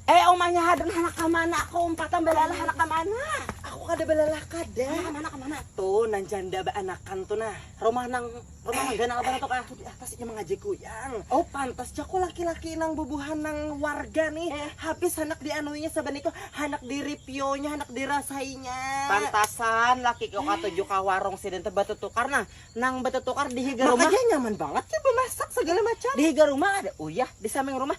Eh omanya hadan hanak kamana aku umpatan balalah hanak kamana aku kada balalah kada hanak kamana kamana tuh nang janda baanakan tuh nah rumah nang rumah nang ganal banget tuh kah tuh di atas inya mangaji kuyang oh pantas ja ku laki-laki nang bubuhan nang warga nih eh. habis hanak dianuinya saban itu hanak di ripionya hanak dirasainya pantasan laki kau katuju ka warung sidin teh batutukar nah nang batutukar di higa rumah makanya nyaman banget ya bemasak segala macam di higa rumah ada uyah di samping rumah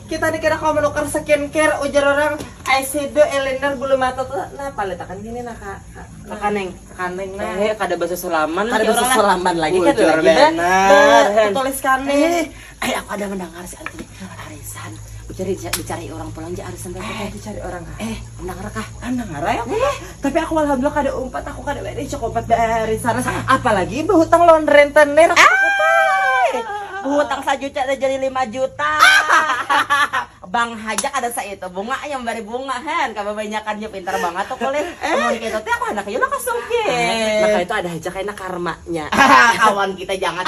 Kita ni kada kawa manukar skincare ujar orang eyeshadow, eyeliner, bulu mata tu nah palit akan gini nah ka kakaneng kakaneng nah eh kada basa salaman kada basa salaman lagi kan lagi benar tulis kane eh, eh aku ada mendengar si Antoni arisan dicari dicari orang pulang aja arisan eh dicari orang eh mendengar kah mendengar ya eh Tapi aku alhamdulillah kada umpat, aku kada bae dicok umpat dari sana. Apalagi behutang lawan rentenir. Behutang sajuta dah jadi lima juta. Bank haja kada saitu bunganya membari bunga hen, kababanyakannya pintar bangat tu kulit. Amun kaitu teh aku handak jua naka sugih. Naka itu ada haja kaina karmanya. Kawan kita jangan.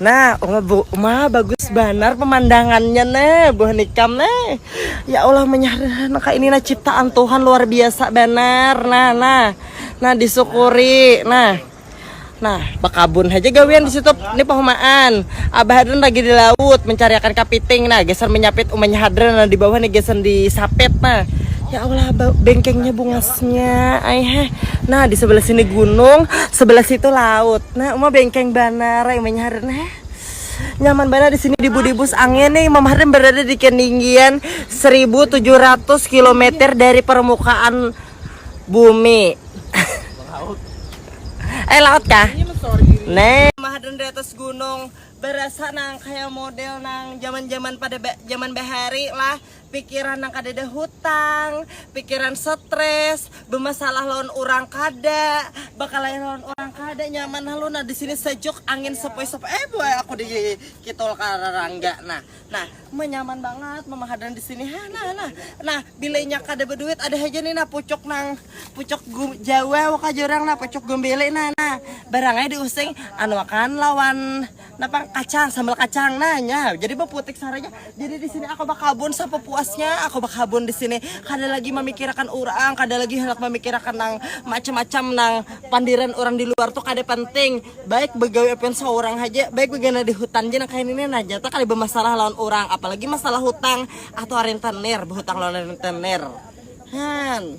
Nah, oh, bu, ma bagus banar pemandangannya nih, buah nikam nih. Ya Allah menyahar naka ini nah ciptaan Tuhan luar biasa banar. Nah, nah, nah disyukuri. Nah, nah bakabun aja gawian di situ. Ini pahumaan. Abah Hadran lagi di laut mencari akan kapiting. Nah, geser menyapit umanya Hadran nah, di bawah nih geser di sapit nah. Ya Allah, bengkengnya bunga Nya, ai heh. Nah, di sebelah sini gunung, sebelah situ laut. Nah, Uma bengkeng banar, ai Umanya Harin heh. Nyaman banar di sini di Budibus angin nih. Mam Harin berada di ketinggian 1700 km dari permukaan bumi. eh, laut kah? Nah, Uma Harin di atas gunung berasa nang kayak model nang zaman-zaman pada zaman bahari lah pikiran nang kadada hutang, pikiran stres, bemasalah lawan urang kada, bakalahi lawan urang kada, nyaman halu nah disini sejuk angin sepoi-sepoi eh buai aku di kitul ka rarangga nah nah menyaman bangat mamahadan disini ha nah nah nah bila inya kada beduit ada haja nih nah pucuk nang pucuk jawa waka jar urang nah pucuk gumbili nah nah barangai diusing anuakan lawan. Napa kacang, sambal kacang nanya. Jadi baputik saranya. Jadi di sini aku bakabun sapupuasnya, aku bakabun di sini. Kada lagi memikirakan orang, kada lagi hendak memikirakan nang macam-macam nang pandiran orang di luar tuh kada penting. Baik begawi apian seorang haja, baik begana di hutan ja nang kaya ini nah. Nyata kada bemasalah lawan orang, apalagi masalah hutang atau rentenir, behutang lawan rentenir. Han.